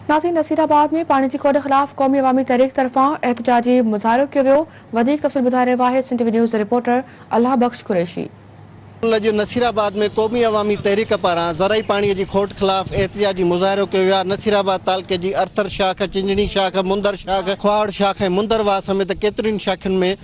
نازين Nasirabad ۾ پاڻي جي کوٽ خلاف قومي عوامي تحريڪ طرفان احتجاجي مظاهرو ڪيو ويو وڌيڪ تفصيل ٻڌائي رهيو آهي سنڌ ٽي وي نيوز جو رپورٽر الله بخش قريشي. ان اڄ نصير آباد ۾ قومي عوامي تحريڪ پاران زرعي پاڻي جي کوٽ خلاف احتجاجي مظاهرو ڪيو ويو آهي نصير آباد تعلقي جي ارٿر شاخ چنجڻي شاخ مندر شاخ کهاوڙ شاخ ۽ مندر واهه سميت ڪيترين شاخين ۾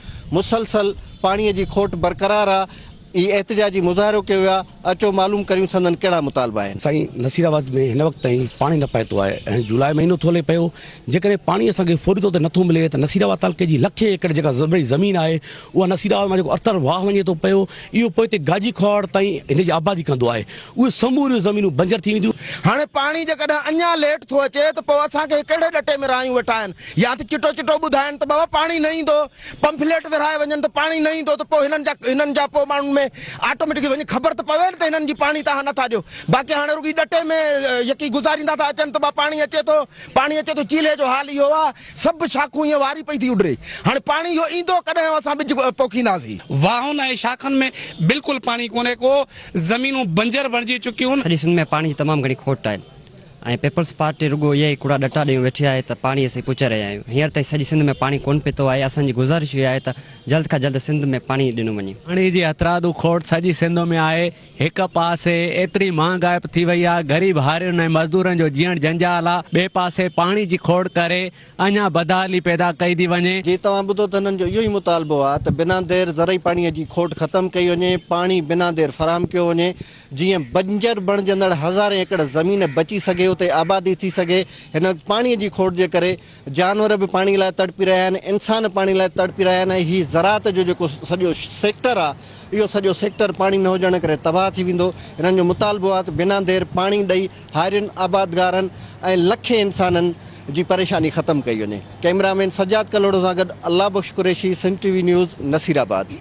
مسلسل پاڻي جي کوٽ برقرار آهي ئي احتجاجي مظاهرو ڪيو ويا اچو معلوم ڪريون سندن ڪهڙا مطالبا آهن. سائين نصير آباد ۾ هن وقت تائين پاڻي نه پهتو آهي ۽ جولاء مهينو ٿو هلي پيو جيڪڏهن پاڻي اسان کي فوري طور تي نٿو ملي ته نصير آباد تعلقي جي لکين ايڪڙ جيڪا زرعي زمين آهي اها نصير آباد مان جيڪو ارتر واهه وڃي ٿو پيو اهو پوئتي گاجي کهاڙ تائين هن جي آبادي ڪندو آهي اهي سموريون زمينون بنجر ٿي وينديون. هاڻي پاڻي جيڪڏهن اڃا ليٽ ٿو اچي ته پوء اسان کي ڪهڙي ڏٽي ۾ رايون وٺائن يا ته چٽو چٽو ٻڌائن ته بابا پاڻي نه ايندو پمفليٽ ورهائي وڃن ته پاڻي نه ايندو ته پوء هنن جا هنن جا پوء ماڻهن ۾ آٽوميٽڪلي وڃي خبر ته پوي نه ته هنن جي پاڻي تهان نٿا ڏيو باقي هاڻي رڳي ڏٽي ۾ يڪي گذاريندا ٿا اچن ته با پاڻي اچي ٿو پاڻي اچي ٿو چيلهي جو حال اهو آهي سڀ شاخون ايئن واري پئي ٿي اڏري هاڻي پاڻي اهو ايندو ڪڏهن اسان ٻج پوکينداسين. واهن ۽ شاخن ۾ بلڪل پاڻي ڪونهي ڪو زمينون بنجر بڻجي چڪيون. سڄي سنڌ ۾ پاڻي جي تمام گهڻي کوٽ آهي. ۽ پيپلز پارٽي رڳو اهي ئي ڪوڙا ڏٽا ڏيئون ويٺي آهي ته پاڻي اسين پچي رهيا آهيون هينئر تائين سڄي سنڌ ۾ پاڻي ڪونه پتو آهي اسان جي گذارش اهي آهي ته جلد کان جلد سنڌ ۾ پاڻي ڏنو وڃي. پاڻي جي هٿرادو کوٽ سڄي سنڌ ۾ آهي هڪ پاسي ايتري مهانگائپ ٿي وئي آهي غريب هارين ۽ مزدورن جو جيئڻ جنجال آهي ٻئي پاسي پاڻي جي کوڙ ڪري اڃان بدحالي پيدا ڪئي ٿي وڃي. جي توهان ٻڌو ته هنن جو اهو ئي مطالبو آهي ته بنا دير زرعي پاڻي جي کوٽ ختم ڪئي وڃي پاڻي بنا دير فراهم ڪيو وڃي جيئن بنجر بڻجندڙ هزارين ايڪڙ زمين بچي سگهي اتي آبادي ٿي سگهي هن وقت پاڻي جي کوٽ جي ڪري جانور به پاڻي لاء تڙپي رهيا آهن انسان پاڻي لاء تڙپي رهيا آهن ۽ هي زراعت جو جيڪو سڄو سيڪٽر آهي اهو سڄو سيڪٽر پاڻي نه هجڻ ڪري تباهه ٿي ويندو هنن جو مطالبو آهي ته بنا دير پاڻي ڏئي هارين آبادگارن ۽ لکين انسانن جي پريشاني ختم ڪئي وڃي ڪئميرا مين سجاد ڪلهوڙو سان گڏ Allah Bukhsh Qureshi Sindh T V news Nasirabad.